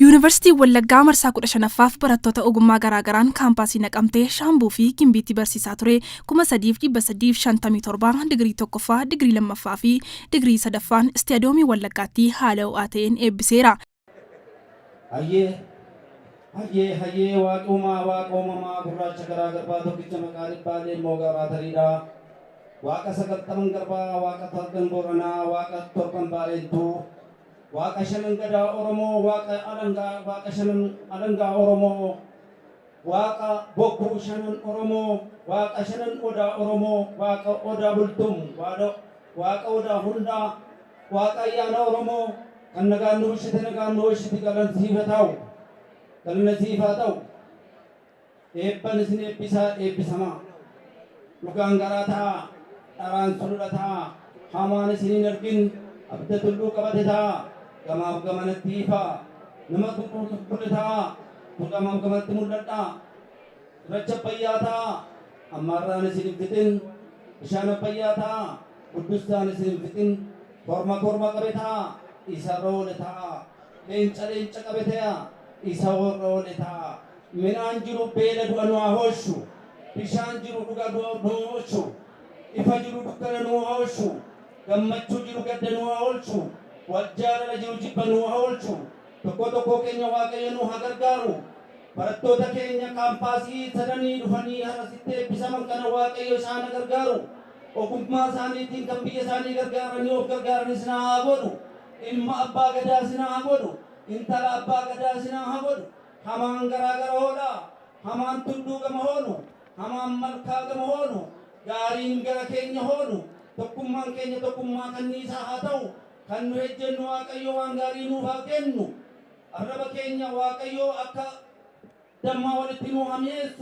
Yuunivarsiitiin Wallaggaa marsaa 15ffaaf barattoota ogummaa garaagaraan kaampaasii Naqamtee, Shaambuu fi Gimbiitti barsiisaa ture 3,357 digirii 1ffaa, digirii 2ffaa fi digirii 3ffaan Istiyadoomii Wallaggaatti haala ho'aa ta'een eebbiseera. Hayyee! Hayyee! Hayyee! Waaqi Uumaa, Waaqa Uumamaa, Gurraacha garaa garbaa tokkicha maqaa dhibbaa leemmoo gaaraa tariidhaa. Waaqa sagaltaman garbaa, Waaqa talgan Booranaa, Waaqa torban Baareentuu, Waaqa Shanan Gadaa Oromoo Waaqa Alangaa Waaqa Shanan Alangaa Oromoo Waaqa Bokkuu Shanan Oromoo Waaqa Shanan Odaa Oromoo Waaqa Odaa Bultum Waada Waaqa Odaa Hundaa Waaqa Ayyaana Oromoo kan nagaan nu bulchite nagaan nu oolchiti galan siif haa ta'u galana siif haa ta'u Eebban isin eebbisa eebbisamaa. Dhugaan garaa ta'aa, dharaan sulula ta'aa, hamaan isin hin argin abidda tulluu qabate ta'aa, gamaaf gamanatti ifaa, nama xuqurxux godhe ta'aa, kun gamaaf gamanatti mul'adhaa. Cirracha Abbayyaa ta'aa, hammaarraan isin hin fixin, bishaan Abbayyaa ta'aa, buddustaan isin hin fixin, korma korma qabe ta'aa, isa irra oole ta'aa, leenca leenca qabe ta'aa, isa irra oole ta'aa. Midhaan jiru beela du'a nu haa oolchu. Bishaan jiru dhuga du'a nu oolchu. Ifa jiru dukkana nu haa oolchu. Gammachuu jiru gadda nu haa oolchu. Wal jaalala jiru jibba nu haa oolchu. Tokkoo tokkoo keenya Waaqayyo nu haa gargaaru. Barattoota keenya kaampaasii sadanii dhufanii har'a sitti eebbisaman kana Waaqayyo isaan ha gargaaru. Ogummaa isaaniitiin kan biyya isaanii gargaaranii of gargaaran isna haa godhu. Ilma Abbaa Gadaa isna haa godhu. Intala Abbaa Gadaa isna haa godhu. Hamaan garaa gara hoolaa, hamaan tulluu gama hoonu, hamaan malkaa gama hoonu, gaariin gara keenya hoonu, tokkummaan keenya tokkummaa kanniisaa haa ta'u, kan nu ejjennu Waaqayyo waan gaarii nuuf haa kennu, arraba keenya Waaqayyo akka dammaa walitti nuu haa mi'eessu.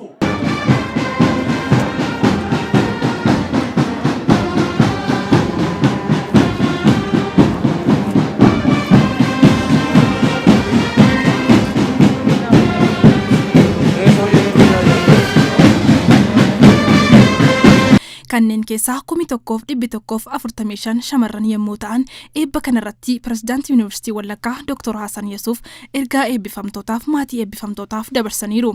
kanneen keessaa kumi tokkoof dhibbi tokkoof afurtamii shan shamarran yommuu ta'an eebba kanarratti pirezidaantii yuunivarsiitii Wallaggaa Dr. Hasan Yesuuf ergaa eebbifamtootaaf maatii eebbifamtootaaf dabarsaniiru.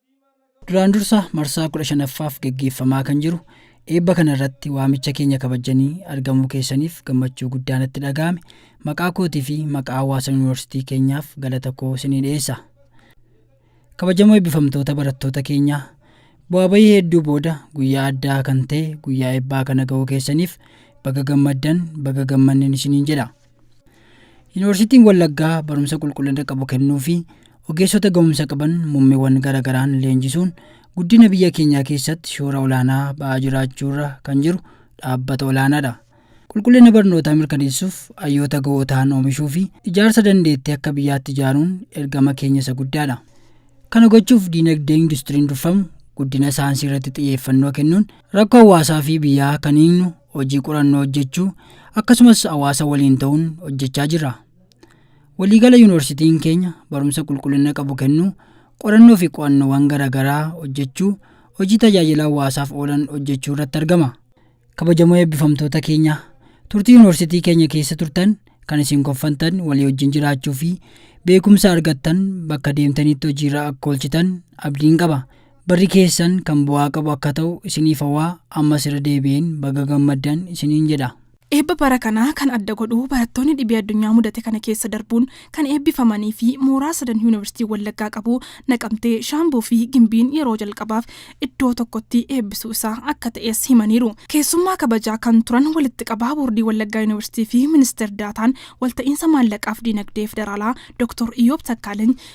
Duraan dursa marsaa 15ffaaf geggeeffamaa kan jiru eebba kana irratti waamicha keenya kabajjanii argamuu keessaniif gammachuu guddaa natti dhaga'ame maqaa kootii fi maqaa hawaasa yuunivarsiitii keenyaaf galata koo isinii dhiyeessa. Kabajamoo eebbifamtoota barattoota keenyaa bu'aa bahii hedduu booda guyyaa addaa kan ta'e guyyaa eebbaa kana ga'uu keessaniif baga gammaddan baga gammannen isiniin jedha. Yuunivarsiitiin Wallaggaa barumsa qulqullina qabu kennuu fi ogeessota ga'umsa qaban muummeewwan garaagaraan leenjisuun guddina biyya keenyaa keessatti shoora olaanaa ba'aa jiraachuurra kan jiru dhaabbata olaanaadha. Qulqullina barnootaa mirkaneessuuf hayyoota ga'oo ta'an oomishuu fi ijaarsa dandeettii akka biyyaatti ijaaruun ergama keenya isa guddaadha. Kana gochuuf diinagdee industiriin durfamu guddina saayinsii irratti xiyyeeffannoo kennuun rakkoo hawaasaa fi biyyaa kan hiiknu hojii qorannoo hojjechuu akkasumas hawaasa waliin ta'uun hojjechaa jirra. Waliigala yuunivarsiitiin keenya barumsa qulqullina qabu kennuu, qorannoo fi qo'annoowwan garaagaraa hojjechuu, hojii tajaajila hawaasaaf oolan hojjechuu irratti argama. Kabajamoo eebbifamtoota keenya, turtii yuunivarsiitii keenya keessa turtan kan isin koffantan walii wajjin jiraachuu fi beekumsa argattan bakka deemtanitti hojiirra akka oolchitan abdiin qaba. Barri keessan kan bu'aa qabu akka ta'u isiniif hawaa ammas irra deebi'een baga gammaddan isiniin jedha. Eebba bara kanaa kan adda godhu barattoonni dhibee addunyaa mudate kana keessa darbuun kan eebbifamanii fi mooraa sadan Yuunivarsiitiin Wallaggaa qabu Naqamtee, Shaambuu fi Gimbiin yeroo jalqabaaf iddoo tokkotti eebbisuu isaa akka ta'es himaniiru. Keessummaa kabajaa kan turan Walitti Qabaa Boordii Wallaggaa Yuunivarsiitii fi Ministeer Daataan Walta'iinsa Maallaqaaf Diinagdee Federaalaa Doktor Iyyoob Takkaalany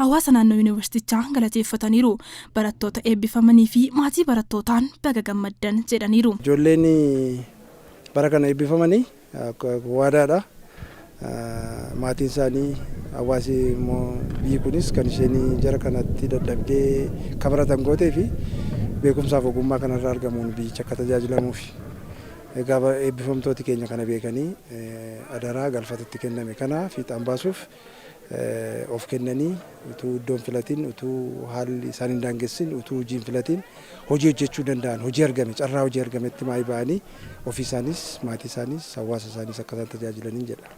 hawaasa naannoo Yuunivarsiitichaa galateeffataniiru. Barattoota eebbifamanii fi maatii barattootaan baga gammaddan jedhaniiru. Ijoolleen bara kana eebbifamanii waadaadha. Maatiin isaanii, hawaasi immoo biyyi kunis kan isheen jara kanatti dadhabdee akka baratan gootee fi beekumsaaf ogummaa kanarraa argamuun biyyichi akka tajaajilamuufi. Egaa eebbifamtooti keenya kana beekanii adaraa galfata itti kenname kana fiixaan baasuuf of kennanii, utuu iddoo hin filatin, utuu haalli isaan hin daangessin, utuu hojii hin filatin hojii hojjechuu danda'an, hojii argame, carraa hojii argametti maayii ba'anii ofii isaaniis, maatii isaaniis, hawaasa isaaniis akka isaan tajaajilaniin jedha.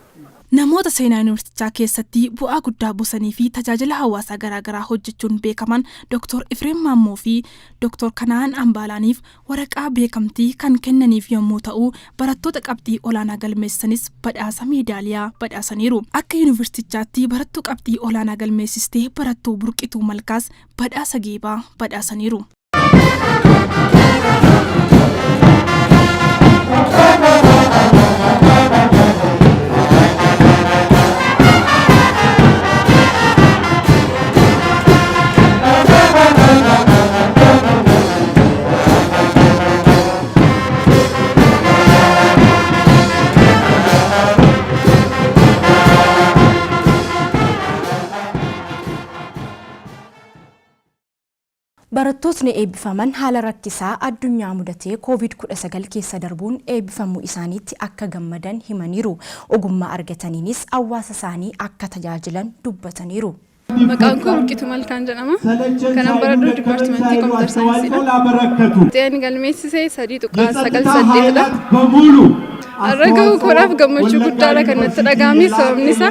Namoota seenaa Yuunivarsiitichaa keessatti bu'aa guddaa buusanii fi tajaajila hawaasaa garaagaraa hojjechuun beekaman Doktor Ifreem Maammoo fi Doktor Kana'aan Ambaalaaniif Waraqaa beekamtii kan kennaniif yommuu ta'u, barattoota qabxii olaanaa galmeessisanis badhaasa meedaaliyaa badhaasaniiru. Akka Yuunivarsiitichaatti barattuu qabxii olaanaa galmeessiste barattuu Burqituu Malkaas badhaasa geebaa badhaasaniiru. Barattootni eebbifaman haala rakkisaa addunyaa mudatee Covid-19 keessa darbuun eebbifamuu isaaniitti akka gammadan himaniiru. Ogummaa argataniinis hawaasa isaanii akka tajaajilan dubbataniiru. Maqaan koo Burqituu Malkaan jedhama. Kanan baradhu dipaartimentii kompiitar saayinsiidha. Xiyyaarri galmeessise sadii tuqaa sagal saddeetidha. Har'a gahuu koodhaaf gammachuu guddaadha kan natti dhaga'ame sababni isaa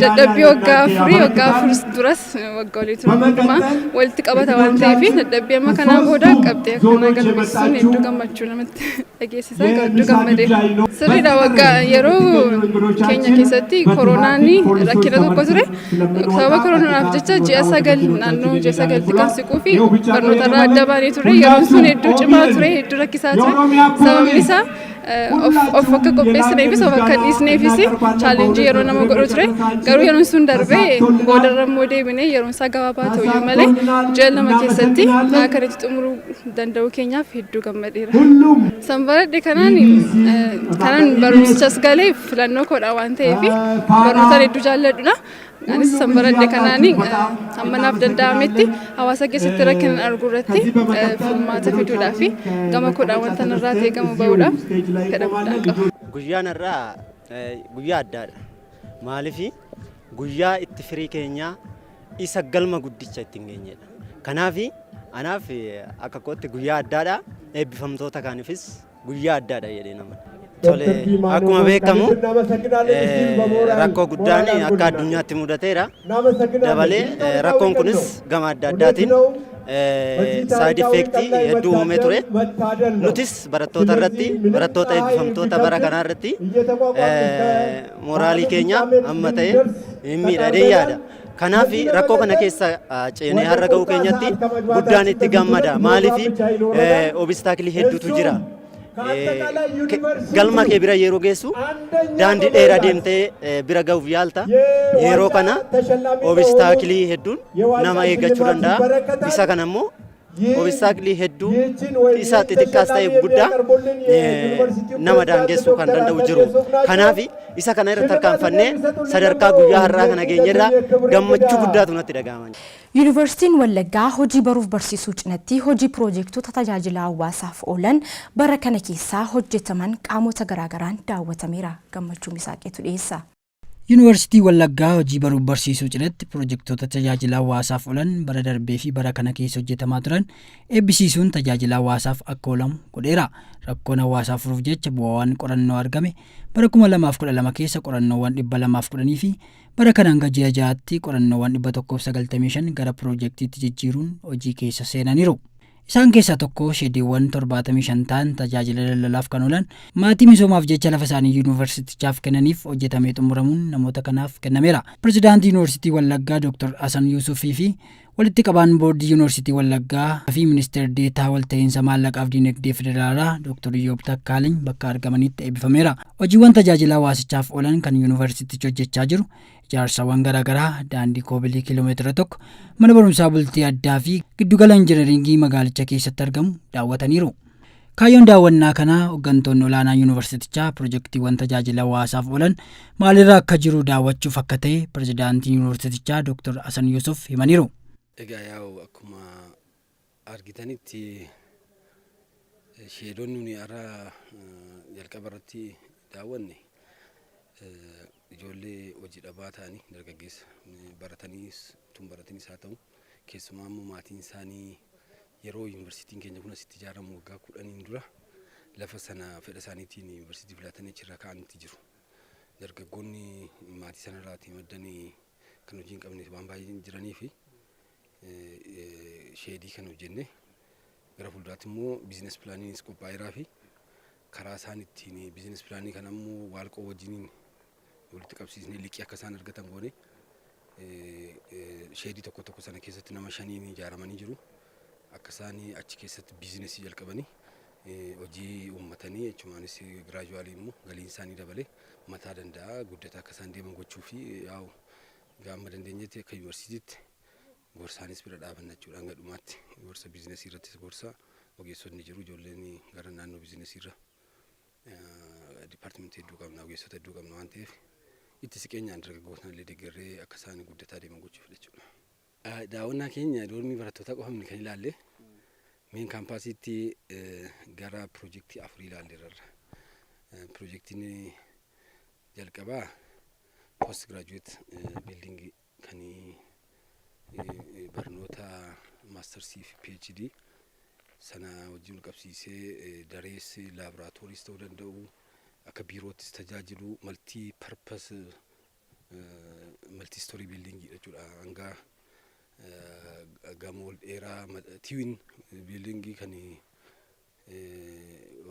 dadhabbii waggaa afurii waggaa afur duras waggaa olii ture hundumaa walitti qabata waan ta'eef dadhabbii amma kanaa booda qabxii akkanaa galmeessisuun hedduu gammachuu namatti dhageessisaa gadduu gammadee sirriidha waggaa yeroo keenya keessatti koronaan rakkina tokko ture sababa koronaaf jecha ji'a sagal naannoo ji'a sagalti kan siquu fi barnoota irraa adda baanee ture yeroon sun hedduu cimaa ture hedduu rakkisaa ture sababni isaa of akka qopheessineefis of akka dhiisneefis chaalenjii yeroo nama godhu ture garuu yeroon sun darbee boodarra immoo deebinee yeroon isaa gabaabaa ta'u malee ji'a lama keessatti akkanitti xumuruu danda'uu keenyaaf hedduu gammadeera. San baradhe kanaan kanan barumsichas galee filannoo koodha waan ta'eef barnootaan hedduu jaalladhudha. Anis san baradhe kanaan hamma naaf danda'ametti hawaasa keessatti rakkinan argu irratti furmaata fiduudhaa fi gama koodhaan wanta narraa ta'e gama ba'uudhaaf fedha guddaa qaba. Guyyaan har'aa guyyaa addaadha. Maaliif Guyyaa itti firii keenyaa isa galma guddicha ittiin geenyedha. Kanaaf anaaf akka kootti guyyaa addaadha. Eebbifamtoota kaaniifis guyyaa addaadha jedhee nama. Tole akkuma beekamu rakkoo guddaan akka addunyaatti mudateera. Dabalee rakkoon kunis gama adda addaatiin saayid effeektii hedduu uumee ture. Nutis barattoota irratti barattoota eebbifamtoota bara kanaa irratti Moraalii keenya amma ta'e hin miidha jedhee yaada. Kanaaf rakkoo kana keessa ceenee har'a ga'uu keenyatti guddaan itti gammada. Maaliif obistaakilii hedduutu jira. Galma kee bira yeroo geessu daandii dheeraa deemtee bira ga'uuf yaalta. Yeroo kana obistaakilii hedduun nama eeggachuu danda'a. Isa kana immoo obistaaklii hedduu isa xixiqqaas ta'e guddaa nama daangessuu kan danda'u jiru. Kanaaf isa kana irra tarkaanfannee sadarkaa guyyaa har'aa kana geenyerraa gammachuu guddaatu natti dhaga'ama. Yuunivarsiitiin Wallaggaa hojii baruuf barsiisuu cinatti hojii piroojeektota tajaajila hawaasaaf oolan bara kana keessaa hojjetaman qaamota garaagaraan daawwatameera. Gammachuu Misaaqiitu dhiyeessa. Yuunivarsiitii Wallaggaa hojii baruuf barsiisuu cinatti pirojektoota tajaajila hawaasaaf oolan bara darbee fi bara kana keessa hojjetamaa turan eebbisiisuun tajaajila hawaasaaf akka oolamu godheera. Rakkoon hawaasaa furuuf jecha bu'aawwan qorannoo argame bara 2012 keessa qorannoowwan 210 fi bara kana hanga ji'a ja'aatti qorannoowwan 195 gara pirojektiitti jijjiiruun hojii keessa seenaniiru. Isaan keessaa tokko sheediiwwan 75 ta'an tajaajila daldalaaf kan oolan maatii misoomaaf jecha lafa isaanii yuunivarsiitichaaf kennaniif hojjetamee xumuramuun namoota kanaaf kennameera. Pirezidaantii Yuunivarsiitii Wallaggaa Dooktar Hasan Yuusufii fi walitti qabaan boordii Yuunivarsiitii Wallaggaa fi ministeer deetaa walta'iinsa maallaqaaf diinagdee federaalaa Dooktar Iyyoob Takkaaliny bakka argamanitti eebbifameera. Hojiiwwan tajaajila hawaasichaaf oolan kan yuunivarsiitichi hojjechaa jiru Ijaarsawwan garaagaraa daandii koobilii kiiloomeetira tokko, mana barumsaa bultii addaa fi giddugala injinariingii magaalicha keessatti argamu daawwataniiru. Kaayyoon daawwannaa kanaa hooggantoonni olaanaa yuunivarsiitichaa pirojektiiwwan tajaajila hawaasaaf oolan maalirra akka jiru daawwachuuf akka ta'e pirezidaantiin yuunivarsiitichaa Dr. Hasan Yuusuf himaniiru. Egaa yaa'u akkuma argitanitti sheedoon nuni har'a jalqaba irratti daawwanne ijoollee hojii dhabaa ta'anii dargaggeessa barataniis tun baratanis haa ta'u keessumaa immoo maatiin isaanii yeroo yuunivarsiitiin keenya kun asitti ijaaramu waggaa kudhaniin dura lafa sana fedha isaaniitiin yuunivarsiitii filatanii achirra kaa'anitti jiru. Dargaggoonni maatii sanarraati maddanii kan hojii hin qabne waan baay'een jiranii fi sheedii kan hojjenne gara fuulduraatti immoo biizines pilaaniinis qophaa'eeraa fi karaa isaan ittiin biizines pilaanii kana immoo waalqoo wajjiniin walitti qabsiisnee liqii akka isaan argatan goone sheedii tokko tokko sana keessatti nama shaniin ijaaramanii jiru. Akka isaan achi keessatti biizinesii jalqabanii hojii uummatanii jechumaanis giraajuwaalii immoo galiin isaanii dabalee mataa danda'a guddataa akka isaan deeman gochuu fi yaa'u Egaa amma dandeenyetti akka yuunivarsiitiitti gorsaanis bira dhaabanna jechuudha hanga dhumaatti gorsa biizinasii irrattis gorsa ogeessotni jiru ijoolleen gara naannoo biizinasii irra dipaartimentii hedduu qabna ogeessota hedduu qabna waan ta'eef itti siqeenyaan dargaggootaan illee deeggarree akka isaan guddataa deeman gochuuf jechuudha. Daawwannaa keenya doormii barattootaa qofa miti kan ilaalle meen kaampaasiitti gara piroojeektii afurii ilaalleerra. Piroojeektiin jalqabaa post graduate building kan barnoota maastarsii fi PhD sana wajjin qabsiisee darees laaboraatooris ta'uu danda'u akka biiroottis tajaajilu maltii parpas maltii istoorii biildiingii jechuudha hanga gamoo dheeraa tiwin biildiingii kan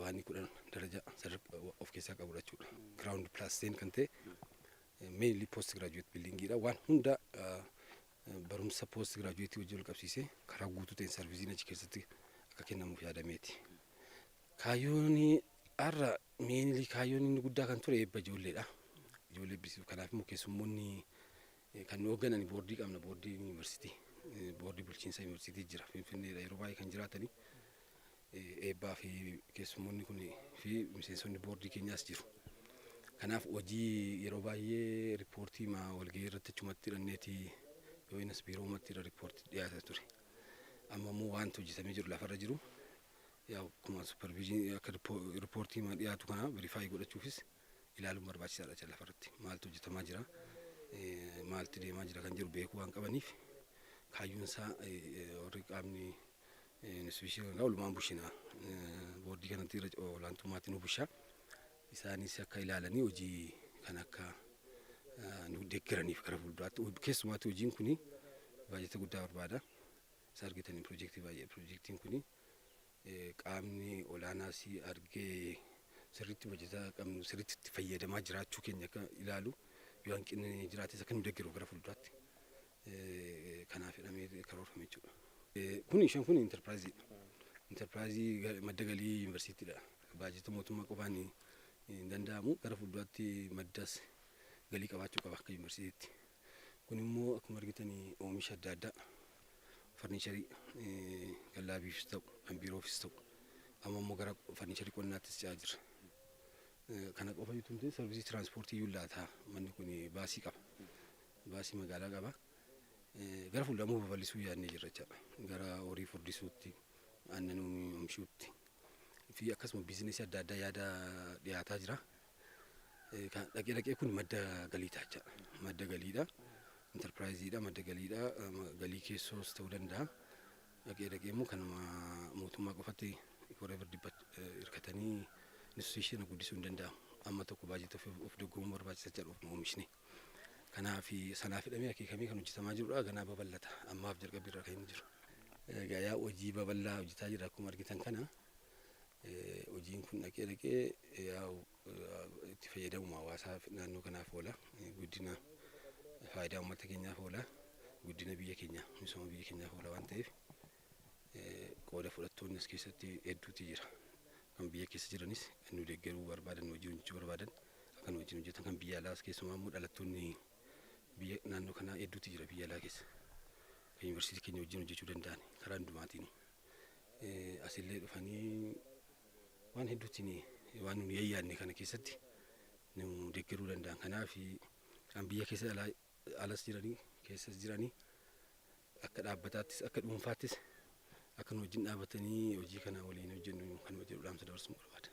waanii kudhan daraja sadarkaa of keessaa qabudha jechuudha. Giraawundi pilaasteen kan ta'e meenilii poost giraajuweet biildiingiidha. Waan hunda barumsa poost giraajuweetii wajjin wal qabsiisee karaa guutuu ta'een sarviisiin achi keessatti akka kennamuuf yaadameeti. Kaayyoon har'a meenilii kaayyoon inni guddaa kan ture eebba ijoolleedha. Ijoollee eebbisiisu. Kanaaf immoo keessummoonni Kan nu hoogganan boordii qabna. Boordiin yuunivarsiitii, boordii bulchiinsa yuunivarsiitii jira. Finfinneedha yeroo baay'ee kan jiraatanii eebbaa fi keessummoonni kun fi miseensonni boordii keenyaas jiru. Kanaaf hojii yeroo baay'ee riippoortii ma walgahii irratti achumatti hidhanneeti yoo innis biiroo uumatti irra riippoortii dhiyaata ture. Amma immoo wanti hojjetamee jiru lafarra jiru yaa akkuma supervision akka riippoortii ma dhiyaatu kana verifaayi godhachuufis ilaaluun barbaachisaadha jecha lafarratti maaltu hojjetamaa jira maaltu deemaa jira kan jiru beekuu waan qabaniif kaayyoon isaa warri qaamni instituushinii kanaa olumaan bushina boordii kanatti irra olaantummaatiin nu bushaa isaanis akka ilaalanii hojii kan akka nu deeggaraniif gara fuulduraatti keessumaatti hojiin kun baajata guddaa barbaada isa argitaniin piroojeektii baay'ee piroojeektiin kun qaamni olaanaa si argee sirriitti hojjetaa qabnu sirriitti itti fayyadamaa jiraachuu keenya akka ilaalu yoo hanqinni jiraates akka nu deggeru gara fuulduraatti kanaaf jedhamee karoorfame jechuudha. Kun shan kun intarpiraayiziidha. Intarpiraayizii madda galii yuunivarsiitiidha. Baajata mootummaa qofaan hin danda'amu gara fuulduraatti maddas galii qabaachuu qaba akka yuunivarsiitiitti. Kun immoo akkuma argitan oomisha adda addaa farniicharii kan laabiifis ta'u kan biiroofis ta'u amma immoo gara farniicharii qonnaattis ce'aa jirra. Kana qofa jechuun miti sarvisii tiraanspoortii iyyuu laata manni kun baasii qaba. Baasii magaalaa qaba. Gara fuulduramoo babal'isuu yaadnee jirra jechaadha. Gara horii furdisuutti, aannan oomishuutti fi akkasuma biizinesii adda addaa yaada dhiyaataa jira. Kan dhaqee dhaqee kun madda galii taachaa madda galiidha. Intarpiraayiziidha madda galiidha. Galii keessoos ta'uu danda'a. Dhaqee dhaqee immoo kanuma mootummaa qofatti whatever dibbat hirkatanii institution guddisuu hin danda'amu. Amma tokko baajata of doggoomuu barbaachisa jedha ofuma oomishni. Kanaaf sanaaf hidhamee akeekamee kan hojjetamaa jirudha. Ganaa babal'ata. Ammaaf jalqabbii irra kan inni jiru. Gayaa hojii babal'aa hojjetaa jira akkuma argitan kana. Hojiin kun dhaqee dhaqee yaa'u itti fayyadamuma hawaasaa naannoo kanaaf oola. Guddina faayidaa uummata keenyaaf oola. Guddina biyya keenyaa misooma biyya keenyaaf oola waan ta'eef qooda fudhattoonni as keessatti hedduutu jira. Kan biyya keessa jiranis kan nu deeggaruu barbaadan hojii hojjechuu barbaadan kan wajjin hojjetan kan biyya alaas keessumaa immoo dhalattoonni biyya naannoo kanaa hedduutu jira biyya alaa keessa. Kan yuunivarsiitii keenya wajjin hojjechuu danda'an karaa hundumaatiin. asillee dhufanii waan hedduutti waan nuyi yayyaanne kana keessatti nu deeggaruu danda'an. Kanaaf kan biyya keessa alas jiranii keessas jiranii akka dhaabbataattis akka dhuunfaattis akka nu wajjin dhaabatanii hojii kana waliin hojjennu kan jedhu dhaamsa dabarsuun barbaada.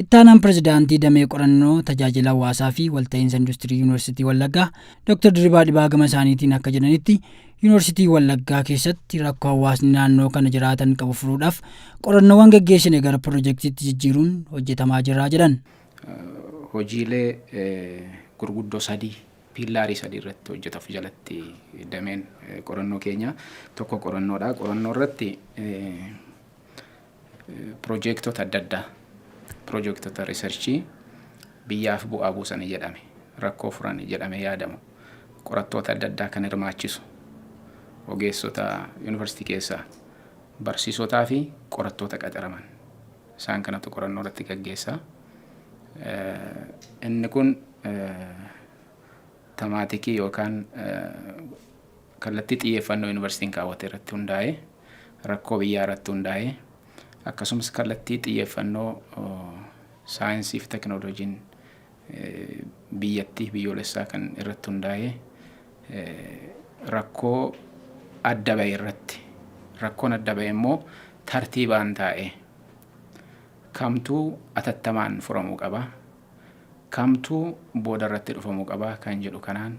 Ittaanaan Pirezidaantii Damee Qorannoo Tajaajila Hawaasaa fi Walta'iinsa Industirii Yuunivarsiitii Wallaggaa Dr. Dirribaa Dhibaa gama isaaniitiin akka jedhanitti Yuunivarsiitii Wallaggaa keessatti rakkoo hawaasni naannoo kana jiraatan qabu furuudhaaf qorannoowwan geggeessine gara pirojektiitti jijjiiruun hojjetamaa jira jedhan. Hojiilee gurguddoo sadii piillaarii sadii irratti hojjetafu jalatti dameen qorannoo keenya tokko qorannoodha. Qorannoo irratti Pirojeektota adda addaa, pirojeektota riisarchii biyyaaf bu'aa buusani jedhame, rakkoo furani jedhamee yaadamu, qorattoota adda addaa kan hirmaachisu, ogeessota yunivarsiitii keessaa, barsiisotaa fi qorattoota qacaraman isaan kanatu qorannoo irratti gaggeessa. Inni kun tamaatikii yookaan Kallattii xiyyeeffannoo Yuunivarsiitiin kaawwate irratti hundaa'ee, rakkoo biyyaa irratti hundaa'ee, akkasumas kallattii xiyyeeffannoo saayinsii fi tekinooloojiin biyyattii biyyoolessaa kan irratti hundaa'ee rakkoo adda ba'e irratti rakkoon adda ba'e immoo tartiibaan taa'ee kamtuu atattamaan furamuu qaba, kamtuu booda irratti dhufamuu qaba kan jedhu kanaan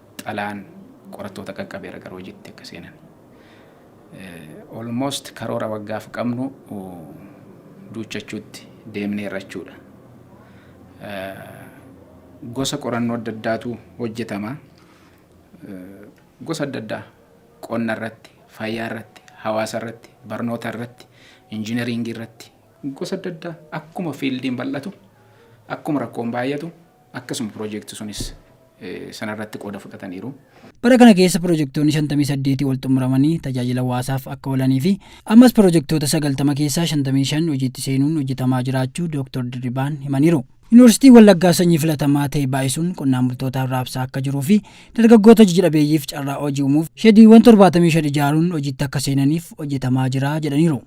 xalaan qorattoota qaqqabeera gara hojiitti akka seenan. Almost karoora waggaaf qabnu duuchachuutti deemneerra jechuudha. Gosa qorannoo adda addaatu hojjetama. Gosa adda addaa qonna irratti, fayyaa irratti, hawaasa irratti, barnoota irratti, injinariingii irratti gosa adda addaa akkuma fiildiin bal'atu, akkuma rakkoon baay'atu akkasuma piroojeekti sunis sanarratti qooda fudhataniiru. Bara kana keessa pirojektoonni 58 ol xumuramanii tajaajila hawaasaaf akka oolanii fi ammas pirojektoota 90 keessaa 55 hojiitti seenuun hojjetamaa jiraachuu Dooktar Dirribaan himaniiru. Yuunivarsiitiin Wallaggaa sanyii filatamaa ta'e baay'isuun qonnaan bultootaaf raabsaa akka jiruu fi dargaggoota hojii dhabeeyyiif carraa hojii uumuuf shediiwwan 75 ijaaruun hojiitti akka seenaniif hojjetamaa jira jedhaniiru.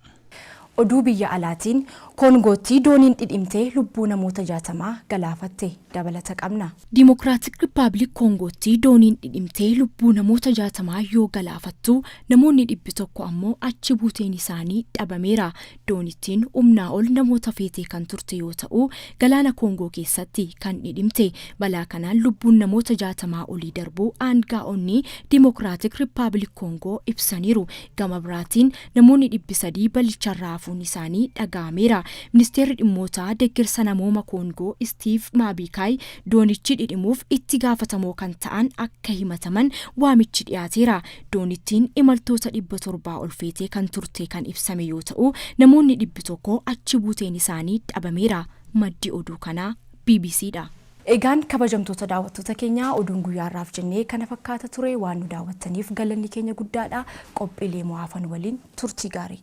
Oduu biyya alaatiin, Koongootti dooniin dhidhimtee lubbuu namoota 60 galaafatte. Dabalata qabna. Dimokiraatik Rippabilik Koongootti dooniin dhidhimtee lubbuu namoota 60 yoo galaafattu, namoonni dhibbi 1 ammoo achi buuteen isaanii dhabameera. Doonittiin umnaa ol namoota feetee kan turte yoo ta'u, galaana Koongoo keessatti kan dhidhimte. Balaa kanaan lubbuun namoota 60 olii darbuu aangaa'onni Dimokiraatik Rippabilik Koongoo ibsaniiru. Gama biraatiin, Namoonni dhibbi sadii balicharraa hafuun isaanii dhaga'ameera. Ministeerri Dhimmoota Deggersa Namooma Koongoo Istiiv Maabiikaay doonichi dhidhimuuf itti gaafatamoo kan ta'an akka himataman waamichi dhiyaateera. Doonittiin imaltoota dhibba torbaa ol feetee kan turte kan ibsame yoo ta'u, namoonni dhibbi tokko achi buuteen isaanii dhabameera. Maddi oduu kanaa BBCdha. Egaan kabajamtoota daawwattoota keenya oduun guyyaa har'aaf jennee kana fakkaata ture. Waan nu daawwattaniif galanni keenya guddaadha. Qophiilee immoo hafan waliin turtii gaarii.